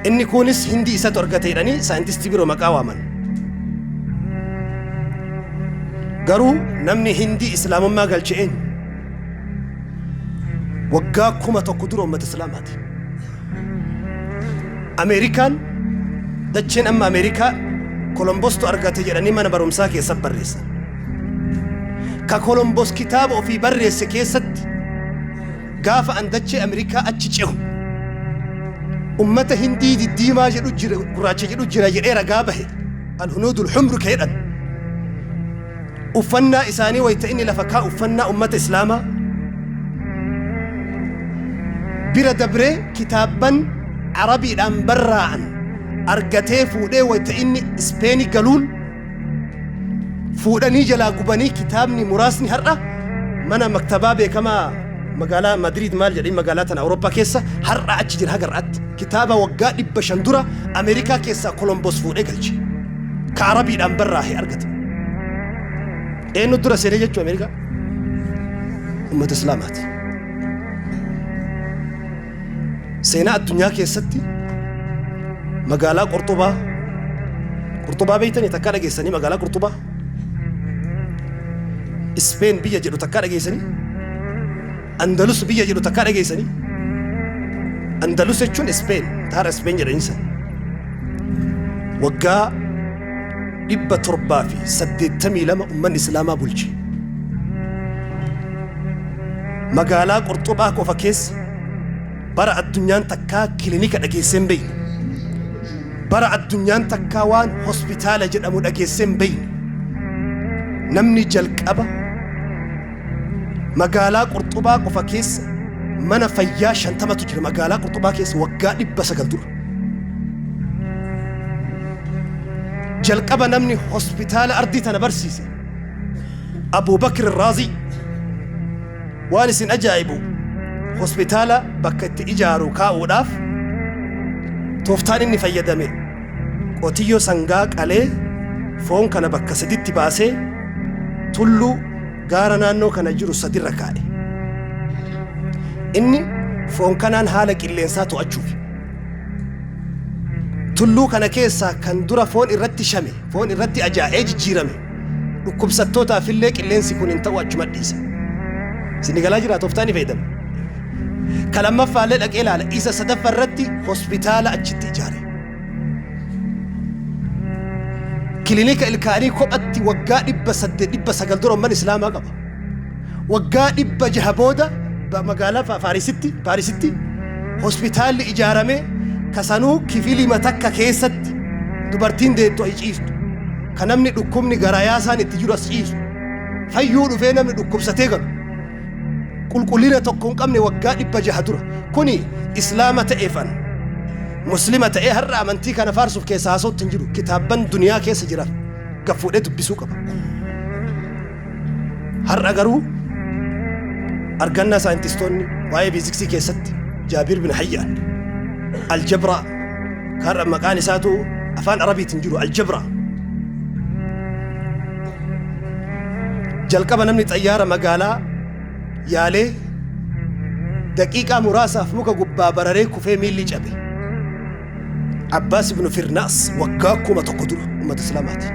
Inni kunis hindi isatu argate jedhanii saayintistii biroo maqaa waaman. Garuu namni hindi islaamummaa galche eenyu? Waggaa kuma tokko dura uummata islaamaati. Ameerikaan dacheen amma Ameerikaa Kolombostu argate jedhanii mana barumsaa keessatti barreessan. Ka Kolombos kitaaba ofii barreesse keessatti gaafa an dachee Ameerikaa achi cehu ummata hindii diddiimaa jedhu jira gurraacha jedhu jira jedhee ragaa bahe alhunuudul humru ka jedhan Uffannaa isaanii wayta inni lafa kaa'u uffannaa ummata Islaamaa bira dabree kitaabban Arabiidhaan barraa'an argatee fuudhee wayta inni Ispeenii galuun fuudhanii jalaa gubanii kitaabni muraasni har'a mana maktabaa beekamaa magaalaa Madriid maal jedhanii magaalaa tana Awurooppaa keessa har'a achi jira haga har'aatti kitaaba waggaa dhibba shan dura Ameerikaa keessaa Kolomboos fuudhee galche. ka arabiidhaan barraahe argata eenyu dura seenee jechuu ameerikaa ummata islaamaati seenaa addunyaa keessatti magaalaa qorxubaa qorxubaa beektanii takkaa dhageessanii magaalaa qorxubaa ispeen biyya jedhu takkaa dhageessanii Andalus biyya jedhu takkaa dhageessanii? Andalus jechuun Ispeen, taara Ispeen jedhanii san. Waggaa dhibba torbaa fi saddeettamii lama ummanni Islaamaa bulche. Magaalaa Qorxobaa qofa keessa bara addunyaan takkaa kilinika dhageesseen beeyne. Bara addunyaan takkaa waan hospitaala jedhamu dhageesseen beeyne. Namni jalqaba Magaalaa Qurxubaa qofa keessa mana fayyaa 50tu jira. Magaalaa Qurxubaa keessa waggaa 900 dura. Jalqaba namni hospitaala ardii tana barsiise Abuubakir Raazii waan isin ajaa'ibu hospitaala bakka itti ijaaru kaa'uudhaaf tooftaan inni fayyadame qotiyyoo sangaa qalee foon kana bakka saditti baasee tulluu, gaara naannoo kana jiru sadirra kaa'e. Inni foon kanaan haala qilleensaa to'achuufi. Tulluu kana keessaa kan dura foon irratti shame, foon irratti ajaa'ee jijjiirame dhukkubsattootaaf illee qilleensi kun hin ta'u achuma dhiise. Isin galaa jira tooftaan ni fayyadama. Kan lammaffaa illee dhaqee ilaala. Isa sadaffaa irratti hospitaala achitti ijaare. kilinika ilkaanii kophatti waggaa dhibba saddeet dhibba sagal dura umman islaamaa qaba waggaa dhibba jaha booda ba- magaalaa Fa- faarisitti paarisitti hospitaalli ijaarame kasanuu kifilima takka keessatti dubartiin deettu ay ciiftu ka namni dhukkubni garayaa isaan itti jiru as ciisu fayyuu dhufee namni dhukkubsatee galu qulqullina tokko hin qabne waggaa dhibba jaha dura kuni islaama ta'eefan muslima ta'ee har'a amantii kana faarsuuf keessa haasootti hin jiru kitaabban duniyaa keessa jiran gaffuudhee dubbisuu qaba har'a garuu argannaa saayintistoonni waa'ee fiiziksii keessatti jaabiir bin hayyaan aljabraa har'a maqaan isaatu afaan arabiitiin jiru aljabraa Jalqaba namni xayyaara magaalaa yaalee daqiiqaa muraasaaf muka gubbaa bararee kufee miilli cabe. Abbaas ibnu Firnaas waggaa kuma tokko dura uummata Islaamaati.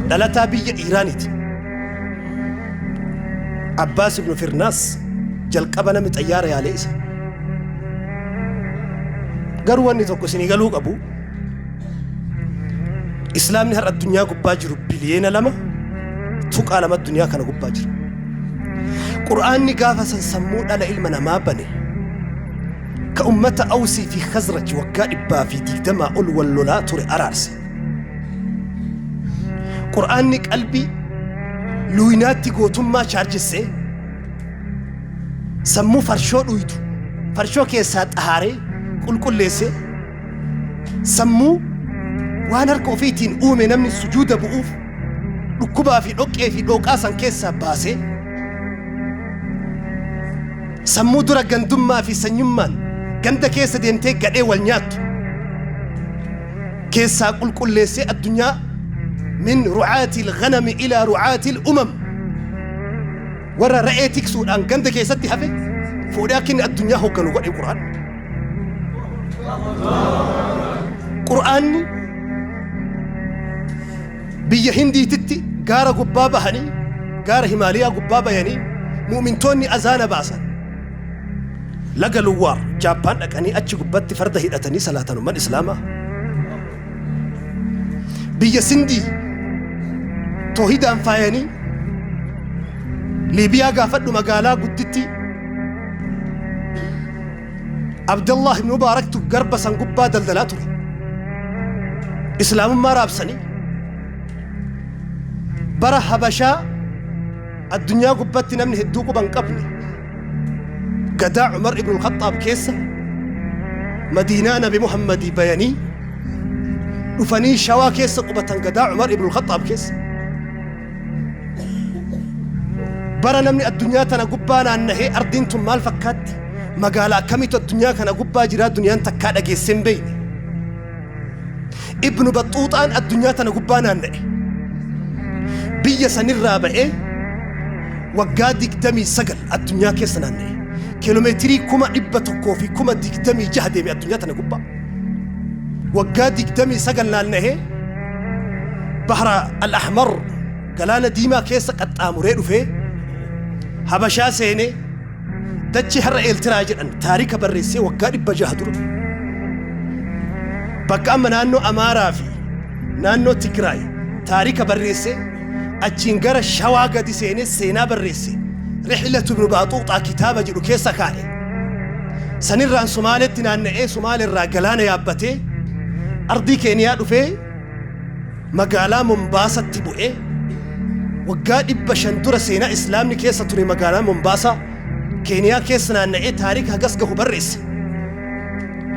Dhalataa biyya Iiraaniiti. Abbaas ibnu Firnaas jalqaba namni xayyaara yaalee isa. Garuu wanni tokko isinii galuu qabu Islaamni har'a addunyaa gubbaa jiru biliyeena lama tuqaa lama addunyaa kana gubbaa jira. Qur'aanni gaafa san sammuu dhala ilma namaa bane ka ummata Awsii fi Khazraj waggaa dhibbaa fi digdamaa ol wal lolaa ture araarse. Qur'aanni qalbii luuyinaatti gootummaa chaarjessee sammuu farshoo dhuydu farshoo keessaa xahaaree qulqulleessee Sammuu waan harka ofiitiin uume namni sujuuda bu'uuf dhukkubaa fi dhoqqee fi dhooqaa san keessaa baasee sammuu dura gandummaa fi sanyummaan ganda keessa deemtee gadhee wal nyaattu keessaa qulqulleessee addunyaa min ru'aatil ghanami ilaa ru'aatil umam Warra ra'ee tiksuudhaan ganda keessatti hafe fuudhee akka inni addunyaa hoogganu godhe Qur'aan. Qur'aanni biyya Hindiititti gaara gubbaa bahanii gaara Himaaliyaa gubbaa bayanii mu'mintoonni azaana baasan. Laga Luwaar Jaappaan dhaqanii achi gubbatti farda hidhatanii salaatan umman Islaamaa. biyya sindii toohidaan faayanii liibiyaa gaafadhu magaalaa guddittii abdallah ibn mubaaraktu garba san gubbaa daldalaa ture islaamummaa raabsanii bara habashaa addunyaa gubbatti namni hedduu quban qabne gadaa Umar ibn al-Khaxxaab keessa Madiinaa Nabi Muhammadii bayanii dhufanii shawaa keessa qubatan gadaa Umar ibn al-Khaxxaab keessa. Bara namni addunyaa tana gubbaa naannahee ardiin tun maal fakkaatti? Magaalaa akkamiitu addunyaa kana gubbaa jiraa duniyaan takkaa dhageessee hin beekne. Ibnu Baxxuuxaan addunyaa tana gubbaa naanna'e. Biyya sanirraa ba'ee waggaa 29 addunyaa keessa naanna'e. Kiiloomeetirii kuma dhibba tokkoo fi kuma 26 deeme addunyaa tana gubbaa. Waggaa 29 naanna'ee Bahra Al-Ahmar galaana diimaa keessa qaxxaamuree dhufee Habashaa seenee Dachee har'a Eeltiraa jedhan taarika barreessee waggaa dhibba jaha dura. Bakka amma naannoo Amaaraa fi naannoo Tigraay taarika barreessee achiin gara Shawaa gadi seenee seenaa barreesse Rixilatu Ibnu Baaxuuxaa kitaaba jedhu keessa kaa'e. Sanirraan Somaaleetti naanna'ee Somaaleerraa galaana yaabbatee ardii Keeniyaa dhufee magaalaa Mombaasatti bu'e, waggaa 500 dura seenaa Islaamni keessa ture magaalaa Mombaasaa, Keeniyaa keessa naanna'ee taarika hagas gahu barreesse.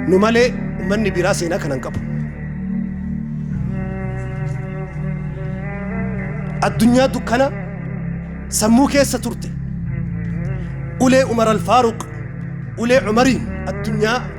Nu malee ummanni biraa seenaa kana hin qabu. Addunyaa dukkana sammuu keessa turte ulee Umar Alfaaruq ulee Umariin addunyaa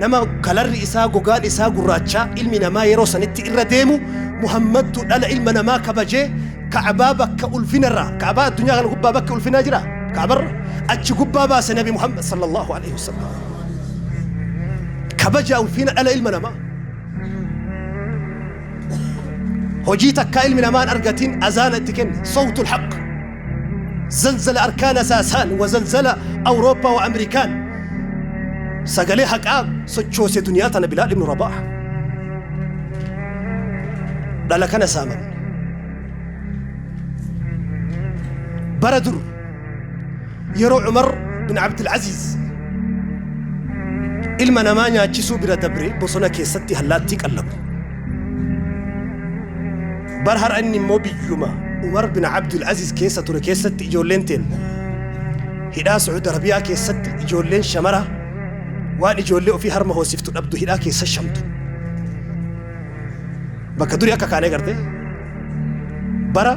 Nama kalarri isaa, gogaan isaa gurraachaa ilmi namaa yeroo sanitti irra deemu Muhammadtu dhala ilma namaa kabajee Ka'baa bakka ulfinarraa, Ka'baa addunyaa kana gubbaa bakki ulfinaa jiraa? Ka'barra? Achi gubbaa baase Nabi Muhammad sallallahu aleyhi wa sallam. Kabajaa ulfina dhala ilma namaa. Hojii takkaa ilmi namaa hin argatin azaana itti kenne. Sawtul haqq. Zalzala arkaan asaasaan wa zalzala Awurooppaa wa Amerikaan sagalee haqaa sochoose duniyaa tana Bilaal ibnu Rabaaha. Dhala kana saamamne. Bara dur yeroo Cumar bin Abdul Aziz ilma namaa nyaachisuu bira dabre bosona keessatti hallaattii qallabu. Bar har'a inni immoo biyyuma Umar bin Abdul Aziz keessa ture keessatti ijoolleen teenna hidhaa Su'ud Arabiyaa keessatti ijoolleen shamara waan ijoollee ofii harma hoosiftu dhabdu hidhaa keessa shamtu. Bakka durii akka kaanee garte bara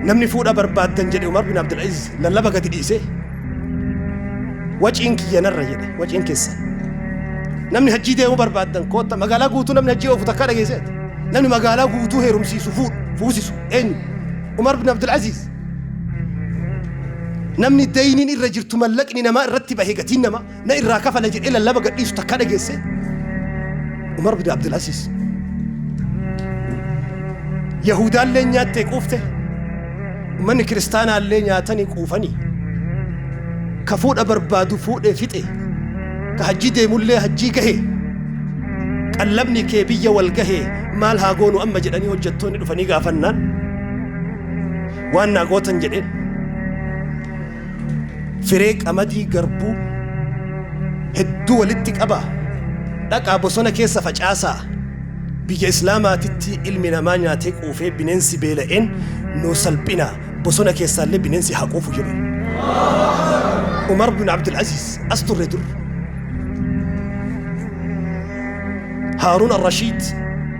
namni fuudha barbaaddan jedhe Umar bin Abdul Aziz lallaba gadi dhiisee waciin kiyya narra jedhe waciin keessan namni hajjii deemuu barbaaddan kootta magaalaa guutuu namni hajjii oofu takkaa dhageesseeti namni magaalaa guutuu heerumsiisu fuudhu fuusisu eenyu umar bin abdul aziiz namni dayniin irra jirtu mallaqni namaa irratti bahe gatiin namaa na irraa kafala jedhee lallaba gadhiisu takka dhageesse Umar bin Abdul Aziz. Yahudaallee nyaattee quufte uummanni kiristaanaallee nyaatanii quufanii ka fuudha barbaadu fuudhee fixe ka hajjii deemullee hajjii gahe qallabni kee biyya wal gahe maal haa goonu amma jedhanii hojjettoonni dhufanii gaafannaan waan naa gootan jedheen Firee qamadii garbuu hedduu walitti qabaa dhaqaa bosona keessa facaasaa biyya islaamaatitti ilmi namaa nyaatee quufee bineensi beela'een nuu salphinaa bosona keessaallee bineensi haa quufu jedhe umar bin abdulaziz as turre dur haaruun arrashiid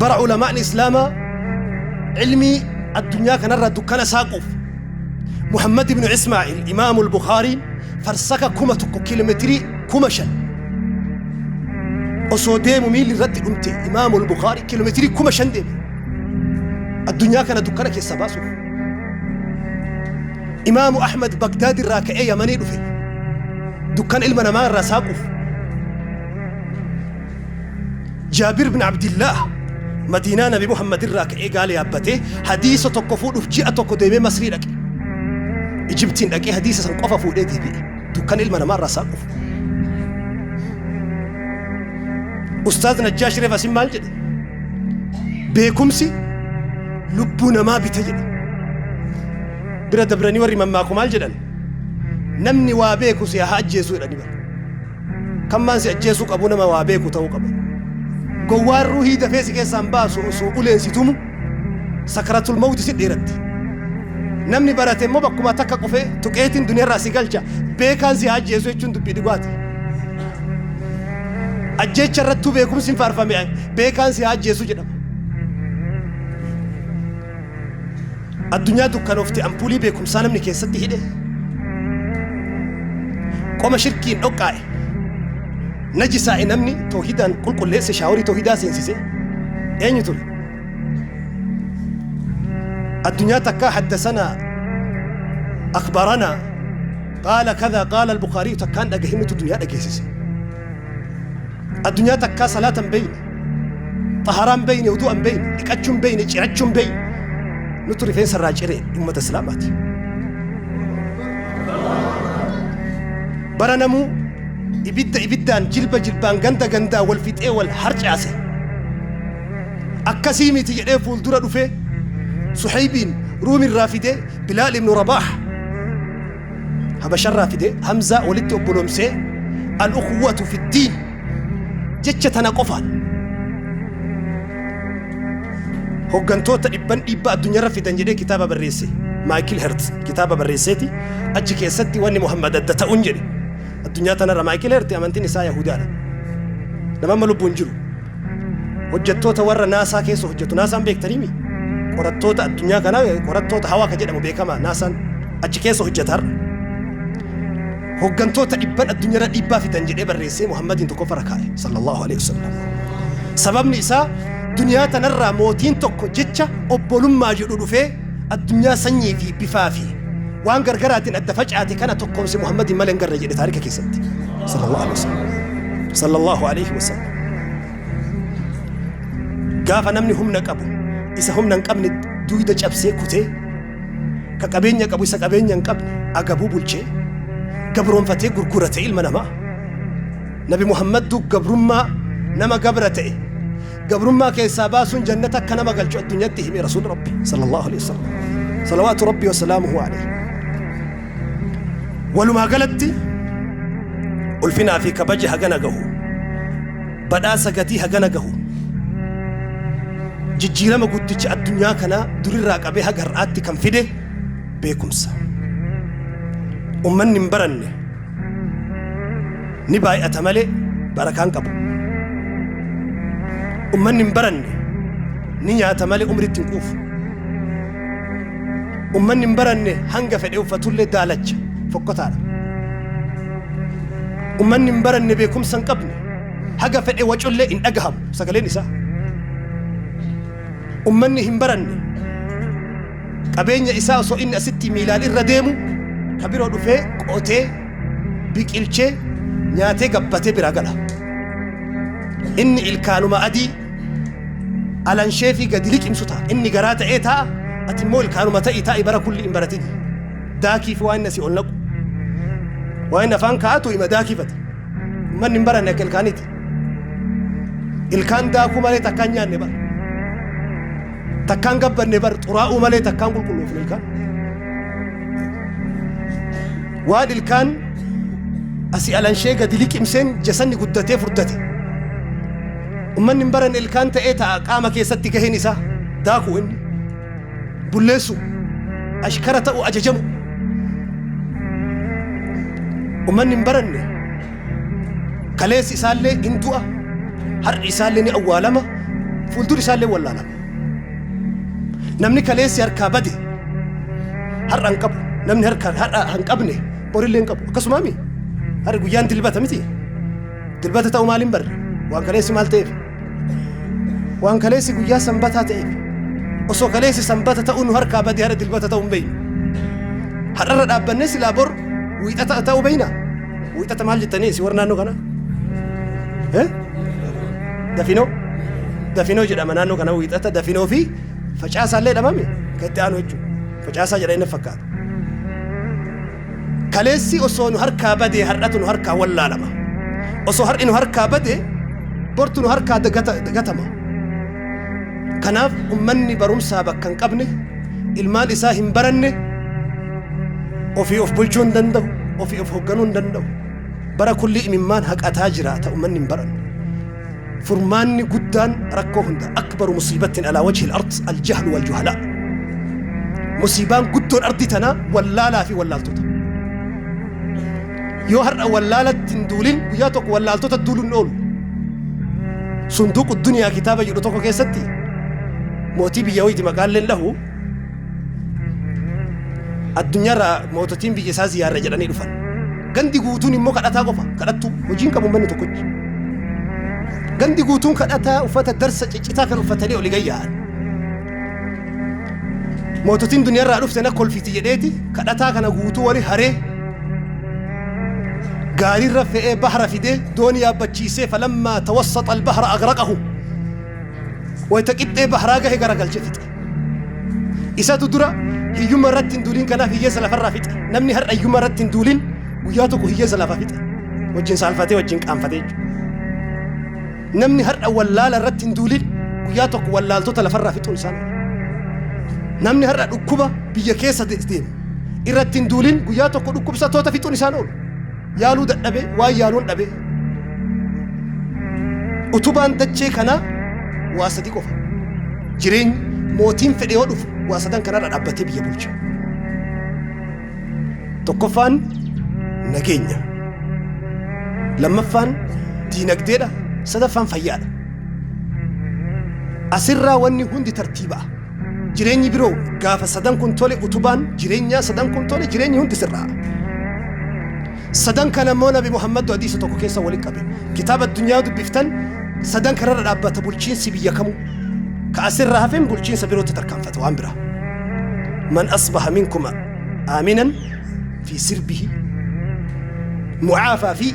bara ulamaa'ni islaamaa ilmii addunyaa kanarraa dukkana saaquuf muhammad ibnu ismaa'il imaamu lbukaariin farsaka kuma tokko kiilometirii kuma shan osoo deemu miilli irratti dhumte imaamu lbukaari kiilometirii kuma shan deeme addunyaa kana dukkana keessa baasuuf imaamu ahmad bagdaad irraa ka'ee yamanii dhufe dukkana ilma namaa irraa saaquuf Jaabir bin Abdillaah Madiinaa Nabi Muhammad irraa ka'ee gaala yaabbatee hadiisa tokko fuudhuuf ji'a tokko deemee Masrii dhaqe. Ijibtiin dhaqee hadiisa san qofa fuudhee deebi'e. Dukkan ilma namaa irraa isaan dhufu. Ustaaz Najjaash Reef Asin maal jedhe? Beekumsi lubbuu namaa bita jedhe. Bira dabranii warri mammaaku maal jedhan? Namni waa beeku si haa ajjeesuu jedhani bara. Kan maan si ajjeesuu qabu nama waa beeku ta'uu qaba. Gowwaan ruuhii dafee si keessaan baasu osoo uleen si tumu sakaratul mawti si dheeratti. Namni barate immoo bakkuma takka qufee tuqeetiin duniyaarraa si galcha beekaan si haa ajjeesu jechuun dubbii dhugaati. Ajjeecha irrattuu beekumsi hin faarfame beekaan si haa ajjeesu jedhama. Addunyaa dukkanoofte ampuulii beekumsaa namni keessatti hidhe qoma shirkiin dhoqqaa'e najisaa'e namni toohidaan qulqulleesse shaaworii toohidaa seensise eenyu ture addunyaa takkaa haddasanaa akbaranaa qaala kadaa qaala albukaariyu takkaan dhagahinnutu duniyaa dhageessise addunyaa takkaa salaatan beeyne xaharaa hin beeyne udu'a hin beeyne dhiqachuu hin beeyne cirachuu hin beeyne nutu rifeensa irraa cire ummata islaamaati bara namuu ibidda ibiddaan jilba jilbaan ganda gandaa wal fixee wal harcaase akkasii miti jedhee fuuldura dhufee suhaybiin ruumi irraa fidee bilaal ibnu rabaax habasharraa fidee hamzaa walitti obboloomsee al-uquwwatu fi ddiin jecha tana qofaan hoggantoota dhibban dhiibbaa addunyaarra fidan jedhee kitaaba barreesse maayikil hertz kitaaba barreesseeti achi keessatti wanni muhammad adda ta'uun jedhe addunyaa tanarra maayikil hertz amantiin isaa yahudaadha nama amma lubbuun jiru hojjettoota warra naasaa keessa hojjetu naasaan beektaniimi qorattoota addunyaa kanaa qorattoota hawaa ka jedhamu beekama naasaan achi keessa hojjetar Hoggantoota dhibban addunyarra dhiibbaa fidan jedhee barreessee Muhammadiin tokkoffa rakaaye sallallahu alaihi wasallam. Sababni isaa duniyaa tanarraa mootiin tokko jecha obbolummaa jedhu dhufee addunyaa sanyii fi bifaa fi waan gargaraatiin adda facaate kana tokkoomse Muhammadiin malee hin garre jedhe taarika keessatti sallallahu alaihi wasallam. Sallallahu alaihi wasallam. Gaafa namni humna qabu isa humna hin qabne duuda cabsee kutee ka qabeenya qabu isa qabeenya hin qabne agabuu bulchee gabroonfatee gurgura ta'e ilma namaa nabi muhammaddu gabrummaa nama gabra ta'e gabrummaa keessaa baasuun jannata akka nama galchu addunyaatti hime rasuul rabbi sallallahu alaihi wasallam salawaatu rabbi wasalaamuhu alaihi walumaa galatti ulfinaa fi kabaji hagana gahu Badhaasa gatii hagana gahu jijjiirama guddicha addunyaa kanaa durirraa qabee haga har'aatti kan fide beekumsa. Ummanni hin baranne ni baay'ata malee barakaa hin qabu. Ummanni hin baranne ni nyaata malee umriitti hin quufu. Ummanni hin baranne hanga fedhe uffatullee daalacha fokkotaadha. Ummanni hin baranne beekumsa hin qabne. haga fedhe wacullee hin dhagahamu sagaleen isaa ummanni hin baranne qabeenya isaa osoo inni asitti miilaan irra deemu ka biroo dhufee qotee biqilchee nyaatee gabbatee biraa gala inni ilkaanuma adii alanshee fi gadi liqimsu ta'a inni garaa ta'ee ta'a ati immoo ilkaanuma ta'ii taa'i bara kulli hin baratin daakii fi waan inni asii ol naqu waan inni afaan kaa'atu hima daakifata Manni hin baranne akka ilkaaniiti. Ilkaan daakuu malee takkaan nyaanne bar. Takkaan gabbanne bar xuraa'uu malee takkaan qulqulloofne ilkaan. Waan ilkaan asii alanshee gadi liqimseen jasanni guddatee furdate. Ummanni hin baranne ilkaan ta'ee ta'a qaama keessatti gaheen isaa daakuu inni. bulleessuu, ashkara ta'uu ajajamu. Ummanni hin baranne kaleessi isaallee hin du'a, har'i isaallee ni awwaalama, fuulduri isaallee wallaalama. Namni kaleessi harkaa bade har'a hin qabu, namni harkaa har'a hin qabne borillee hin qabu. Akkasumaami har'i guyyaan dilbata miti. Dilbata ta'uu maaliin barre? Waan kaleessi maal ta'eef? Waan kaleessi guyyaa sanbataa ta'eef osoo kaleessi sanbata ta'uu nu harkaa badee har'a dilbata ta'uu hin beeknu. Har'arra dhaabbannee silaa bor wiixata ta'uu beekna. Wiixata maal jettanii isin warra naannoo kana? Eh? Dafinoo? Dafinoo jedhama naannoo kana wiixata dafinoo fi facaasaa illee dhamame kan itti aanu jechuudha. Facaasaa jedha inni fakkaata. Kaleessi osoo nu harkaa badee har'atu nu harkaa wallaalama. Osoo har'i nu harkaa bade bortu nu harkaa dagatama. Kanaaf ummanni barumsaa bakka hin qabne ilmaan isaa hin baranne ofii of bulchuu hin danda'u, ofii of hoogganuu hin danda'u. Bara kulli imimmaan haqataa jiraata ummanni hin baranne. Furmaanni guddaan rakkoo hunda akbaru musiibattin alaa wajhil ard aljahlu wal juhalaa. Musiibaan guddoon ardii tanaa wallaalaa fi wallaaltota. Yoo har'a wallaalatti hin duulin guyyaa tokko wallaaltota duuluu hin oolu. Sunduuqu duniyaa kitaaba jedhu tokko keessatti mootii biyya wayti maqaalleen dhahu Addunyaarraa moototiin biyya isaa ziyaarra jedhanii dhufan. Gandi guutuun immoo kadhataa qofa. Kadhattuu hojiin qabu manni tokkochi. Gandi guutuun kadhataa uffata darsa ciccitaa kan uffatanii oli gayya'an. Moototiin duniyaarraa dhufte na kolfiiti jedheeti kadhataa kana guutuu wali haree gaariirra fe'ee bahara fidee doonii yaabbachiisee falammaa tawassaxa albahara agraqahu wayita qixxee baharaa gahe garagalche fixe. Isatu dura hiyyumma irratti hin duulin kanaaf hiyyeessa lafarraa fixe. Namni har'a hiyyumma irratti hin duulin guyyaa tokko hiyyeessa lafa fixe. Wajjin saalfatee wajjin qaanfatee jechuudha. Namni har'a wallaala irratti hin duulin guyyaa tokko wallaaltota lafarraa fixuun isaan. Namni har'a dhukkuba biyya keessa deemu irratti hin duulin guyyaa tokko dhukkubsattoota fixuun isaan oolu. yaaluu dadhabe waan yaaluun dhabe utubaan dachee kanaa waa sadi qofa jireenyi mootiin fedhe yoo dhufu waa sadan kanarra dhaabbatee biyya bulcha tokkoffaan nageenya lammaffaan diinagdeedha sadaffaan fayyaadha asirraa wanni hundi tartiiba'a Jireenyi biroo gaafa sadan kun tole utubaan jireenyaa sadan kun tole jireenyi hundi sirraa. Sadan kana immoo Nabi Muhammad hadiisa tokko keessa waliin qabe. Kitaaba addunyaa dubbiftan sadan kanarra dhaabbata bulchiinsi biyya kamuu. Ka asirra hafeen bulchiinsa birootti tarkaanfata waan biraa. Man asbaha minkuma aaminan fi sirbihi mucaafaa fi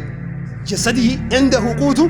jasadihi inda huquutu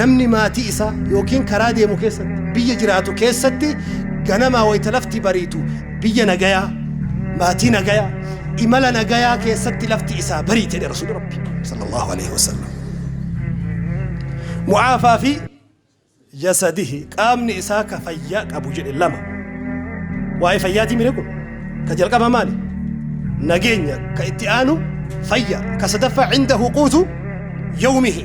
Namni maatii isaa yookiin karaa deemu keessatti, biyya jiraatu keessatti ganamaa wayita lafti bariitu biyya nagayaa, maatii nagayaa, imala nagayaa keessatti lafti isaa bariite jedhe Rasuulli Rabbi sallallahu alaihi wasallam. Mu'aafaa fi jasadihi qaamni isaa ka fayyaa qabu jedhe lama. Waa'ee fayyaatii mire kun ka jalqaba maali? Nageenya ka itti aanu fayya ka sadaffaa cindahu quutu yawmihi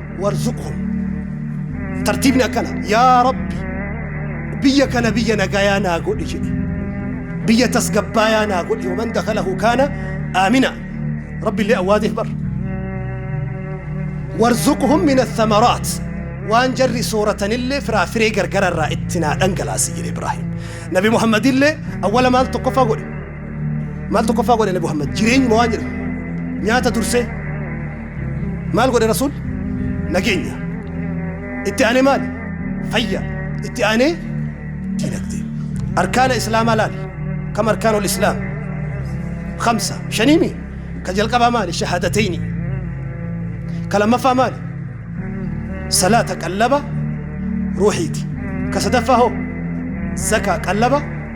warzuqhum tartiibni akkana yaa rabbi biyya kana biyya nagayaa naa godhi jedhe biyya tasgabbaayaa naa godhi waman dakalahu kaana aamina rabbi illee awwaateef bar warzuqhum min athamaraat waan jarri sooratanillee firaafiree gargararraa itti naa dhangalaasi jedhe ibraahim nabi muhammadillee awwala maal tokkoffaa godhe maal tokkoffaa godhe nabi muhammad jireenyuma waan jedhu nyaata dursee maal godhe rasuul nageenya itti aanee maali fayya itti aanee diinagdee arkaana islaamaa laal kam arkaana ol islaam kamsa shaniimi ka jalqabaa maali shahaadatayni ka lammaffaa maali salaata qallaba ruuxiiti ka sadaffaa hoo zakaa qallaba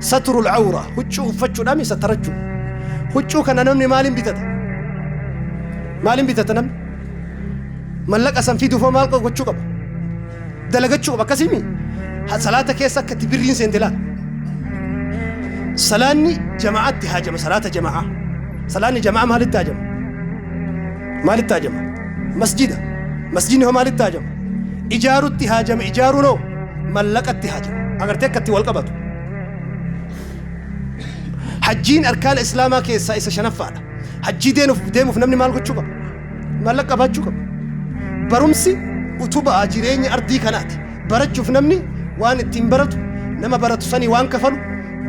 Saturul Awraa, huccuu uffachuudhaan isa tarachuu. Huccuu kana namni maaliin bitata? Maaliin bitata namni? Mallaqa san fiduuf hoo maal gochuu qaba? Dalagachuu qaba akkasii mii? Ha- Salaata keessa akka itti birriin seente laata? Salaanni jama'aatti haajama salaata jama'aa. Salaanni jama'aa maalitti haajama? Maalitti haajama? Masjida. Masjidni hoo maalitti haajama? Ijaarutti haajama ijaaruun hoo mallaqatti haajama. Agartee akka itti wal qabatu. Hajjiin arkaana Islaamaa keessaa isa shanaffaadha. Hajjii deemuuf namni maal gochuu qaba? Maallaqa qabaachuu qaba. Barumsi utubaa jireenya ardii kanaati. Barachuuf namni waan ittiin baratu, nama baratu sanii waan kafalu,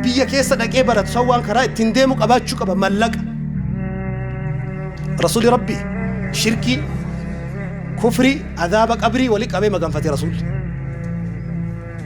biyya keessa dhaqee baratu san waan karaa ittiin deemu qabaachuu qaba mallaqa. Rasuulli Rabbi shirkii, kufrii, azaaba qabrii wali qabee maganfate Rasuulli.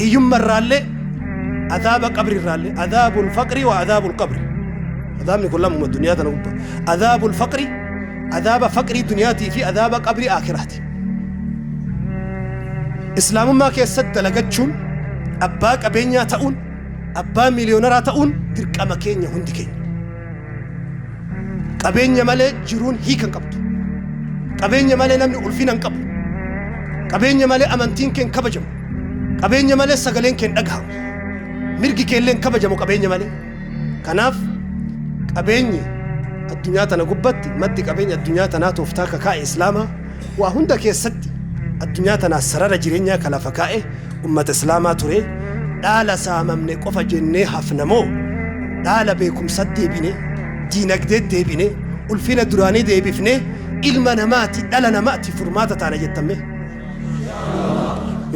hiyyumma irraallee azaaba qabri irraallee azaabul faqri wa azaabul qabri azaabni kun lamuma duniyaa tana gubba azaabul faqri azaaba faqrii duniyaatii fi azaaba qabri aakiraati islaamummaa keessatti dalagachuun abbaa qabeenyaa ta'uun abbaa miiliyoonaraa ta'uun dirqama keenya hundi keenya Qabeenya malee jiruun hiika hin qabdu. Qabeenya malee namni ulfina hin qabu. Qabeenya malee amantiin kee hin kabajamu. Qabeenya malee sagaleen kee hin dhagahamu. Mirgi kee illee hin kabajamu qabeenya malee. Kanaaf qabeenyi addunyaa tana gubbatti maddi qabeenya addunyaa tanaa tooftaa akka kaa'e Islaamaa Waa hunda keessatti addunyaa tanaas sarara jireenyaa ka lafa kaa'e ummata Islaamaa ture. Dhaala saamamne qofa jennee hafna moo dhaala beekumsatti deebine, diinagdeetti deebine, ulfina duraanii deebifnee ilma namaati, dhala namaati furmaata taana jettan mee?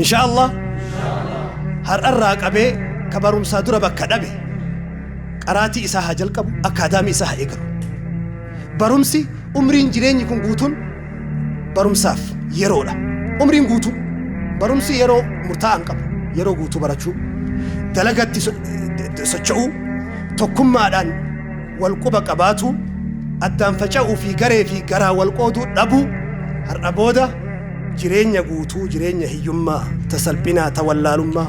Inshaa Allah har'arraa qabee ka barumsaa dura bakka dhabe qaraatii isaa haa jalqabu, akkaadaamii isaa haa eegalu. Barumsi Umriin jireenyi kun guutuun barumsaaf yeroodha. Umriin guutuu barumsi yeroo murtaa'aa hin qabu. Yeroo guutuu barachuu, dalagatti so- d- socho'uu, tokkummaadhaan wal quba qabaatu, addaan faca'uu fi garee fi garaa wal qooduu dhabuu har'a booda jireenya guutuu, jireenya hiyyummaa, ta salphinaa, ta wallaalummaa,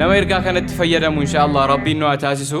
Nama ergaa kanatti fayyadamu inshaallah rabbiin nu haa taasisu.